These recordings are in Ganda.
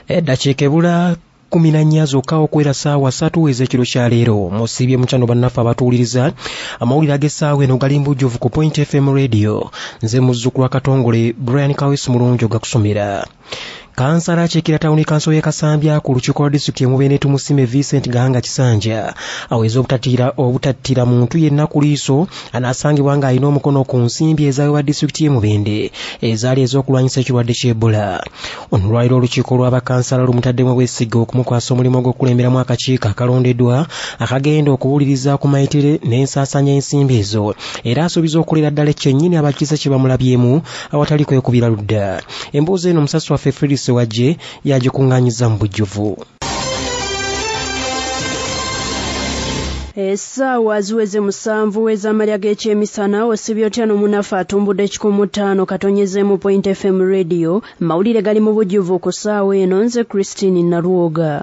eddakiika ebula kumi na nnya zokka okwera saawa satu ez'ekiro kya leero musiibye mukyano bannaffe abatuwuliriza amawulire ag'essaawa eno gali mbujjuvu ku point fm radio nze muzzukulu wa katongole brian kawesi mulungi ogakusomera kansala akyekira tawuni kanso y'e kasambya ku lukiiko lwa disitulikiti emubende tumusime vincent gahanga kisanja aweze obutattira muntu yenna ku liiso anaasangibwa ng'alina omukono ku nsimbi ezaweebwa disitulikiti y'emubende ezaali ez'okulwanyisa ekirwadde ky'ebola ono lwaliro olukiiko lwa bakansala lumutaddemu obwesige okumukwasa omulimu gw'okukulemberamu akakiiko akalondeddwa akagenda okuwuliriza ku mayitire n'ensaasaanya ensimbi ezo era asuubiza okukolera ddala ekyennyini abakiise kye bamulabyemu awatali kwekubira ludda emboozi eno omusasi waffe fredi sewagye yagikung'anyiza mu bujjuvu essaawa ziweze musanvu w'ezamalya g'ekyemisana osibye otya n'omunafu atumbudde ekikumu ttaano katonyezeemu point fm radio mawulire gali mu bujjuvu ku ssaawa eno nze christine nalwoga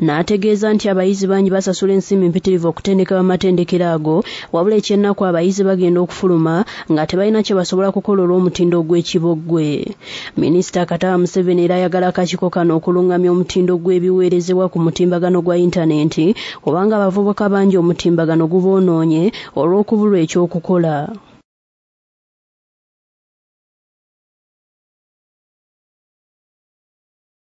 n'ategeeza nti abayizi bangi basasula ensimbi mpitirivu okutendekebwa mu matendekero ago wabula ekyennaku abayizi bagenda okufuluma nga tebalina kye basobola kukola olw'omutindo ogw'ekiboggwe minisita kataba museveni era ayagala akakiiko kano okulungamya omutindo gw'ebiweerezebwa ku mutimbagano gwa yintanenti kubanga abavubuka bangi omutimbagano guboonoonye olw'okubulwa eky'okukola